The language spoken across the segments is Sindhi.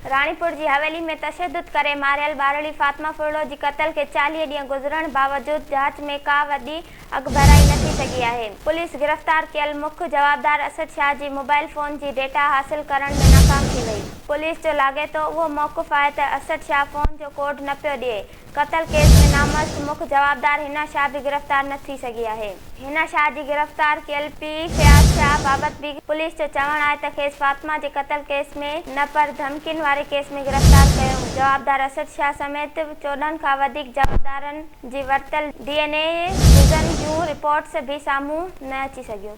راڻيپور جي حويلي ۾ تشدد ڪري ماريل ٻارڙي فاطمه ڦرڙو جي قتل کي چاليهه ڏينهن گذرڻ باوجود جاچ ۾ ڪا وڏي اڳڀرائي نه ٿي سگهي آهي. پوليس گرفتار ڪيل مک جوابدار اسد شاهه جي موبائل فون جي ڊيٽا حاصل ڪرڻ ۾ ناڪام ٿي وئي. پوليس جو لاڳيتو اهو موقف آهي ته اسد شاهه فون جو ڪوڊ نه پيو ڏئي، قتل ڪيس ۾ نامرس مک جوابدار حنا شاهه به گرفتار نه ٿي سگهي آهي. حنا شاهه جي گرفتار ڪيل پيء فياض شاهه بابت به پوليس جو چوڻ آهي ته کيس فاطمه جي قتل ڪيس ۾ نه پر ڌمڪين واري ڪيس ۾ گرفتار ڪيو هو. جوابدار اسد شاهه سميت چوڏهن کان وڌيڪ جوابدارن جي ورتل ڊي اين اي جزن جون رپورٽس به سامهون نه اچي سگهيون.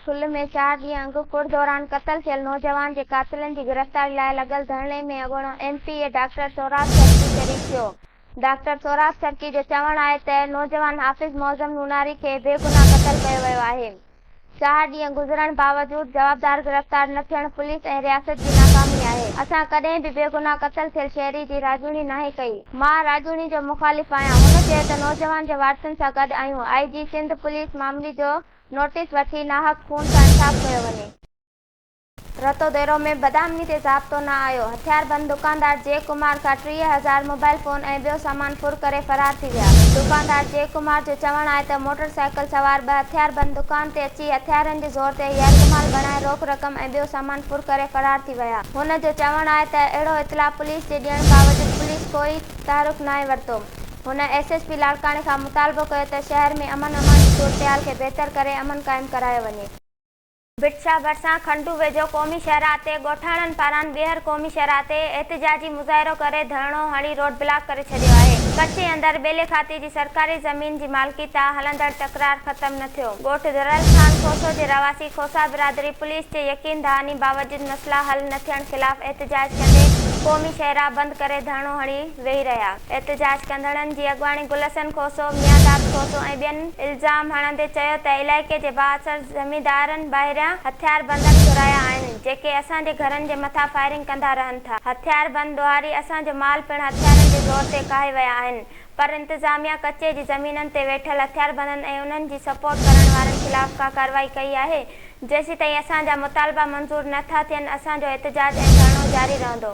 ٺل ۾ چار ڏينهن اڳ ڪڙ دوران قتل ٿيل نوجوان جي قاتلن جي گرفتاري لاء لڳل ڌرڻي ۾ اڳوڻو M P A doctor Sohrab Sarki شريڪ ٿيو. ڊاڪٽر سهراب سرڪي جو چوڻ آهي ته نوجوان حافظ معظم نوناري کي بيگناهه قتل ڪيو ويو آهي. چار ڏينهن گذرڻ باوجود جوابدار گرفتار نه ٿيڻ پوليس ۽ رياست جي ناڪامي آهي. اسان ڪڏهن به بيگناهه قتل ٿيل شهري جي راڄوڻي ناهي ڪئي. مان راڄوڻي جو مخالف آهيان. هن چيو ته نوجوان جي وارثن سان گڏ آهيون، آء جي سنڌ پوليس معاملي جو نوٽيس وٺي ناحق خون سان انصاف ڪيو وڃي. رتو ديرو ۾ بدامني تي ضابطو نه آيو، هٿياربند دڪاندار جئه ڪمار کان ٽيهه هزار موبائل فون ۽ ٻيو سامان ڦر ڪري فرار ٿي ويا، دڪاندار جئه ڪمار جو چوڻ آهي ته موٽر سائيڪل سوار ٻه هٿياربند دڪان تي اچي هٿيارن جي زور تي يرغمال بڻائي روڪ رقم ۽ ٻيو سامان ڦر ڪري فرار ٿي ٿي ويا. هن جو چوڻ آهي ته اهڙو اطلاع پوليس جي ڏيڻ باوجود پوليس ڪوئي تحرڪ ناهي ورتو. هن ايس ايس پي لاڙڪاڻي کان مطالبو ڪيو ته شهر ۾ امن امان جي صورتحال کي بهتر ڪري امن قائم ڪرايو وڃي. ڀٽ شاهه ڀرسان کنڊو ويجهو قومي شاهراهه تي ڳوٺاڻن پاران ٻيهر قومي شاهراهه تي احتجاجي مظاهرو ڪري ڌرڻو هڻي روڊ بلاڪ ڪري ڇڏيو آهي. ڪچي اندر ٻيلي کاتي جي سرڪاري زمين جي مالڪي تان هلندڙ تڪرار ختم نه ٿيو، ڳوٺ درل خان کوسو جي رهواسي کوسا برادري پوليس جي يقين دهاني باوجود مسئلا حل نه ٿيڻ خلاف احتجاج ڪندي قومي شهراهه بند ڪري ڌرڻو هڻي ويهي رهيا، احتجاج ڪندڙن جي اڳواڻي گل حسن کوسو، ميان داد کوسو ۽ ٻين الزام هڻندي چيو ته علائقي جي بااثر زميندارن ٻاهريان هٿياربندن گهرايا آهن جيڪي اسان جي گهرن جي مٿان فائرنگ ڪندا رهن ٿا، هٿياربند ڏوهاري اسان جو مال پڻ هٿيارن جي زور تي ڪاهي ويا آهن، پر انتظاميا ڪچي جي زمينن تي ويٺل هٿياربندن ۽ انهن جي سپورٽ ڪرڻ وارن خلاف ڪا ڪارروائي ڪئي آهي؟ جيسيتائين اسان جا مطالبا منظور نه ٿا ٿين اسان جو احتجاج ۽ ڌرڻو جاري رهندو.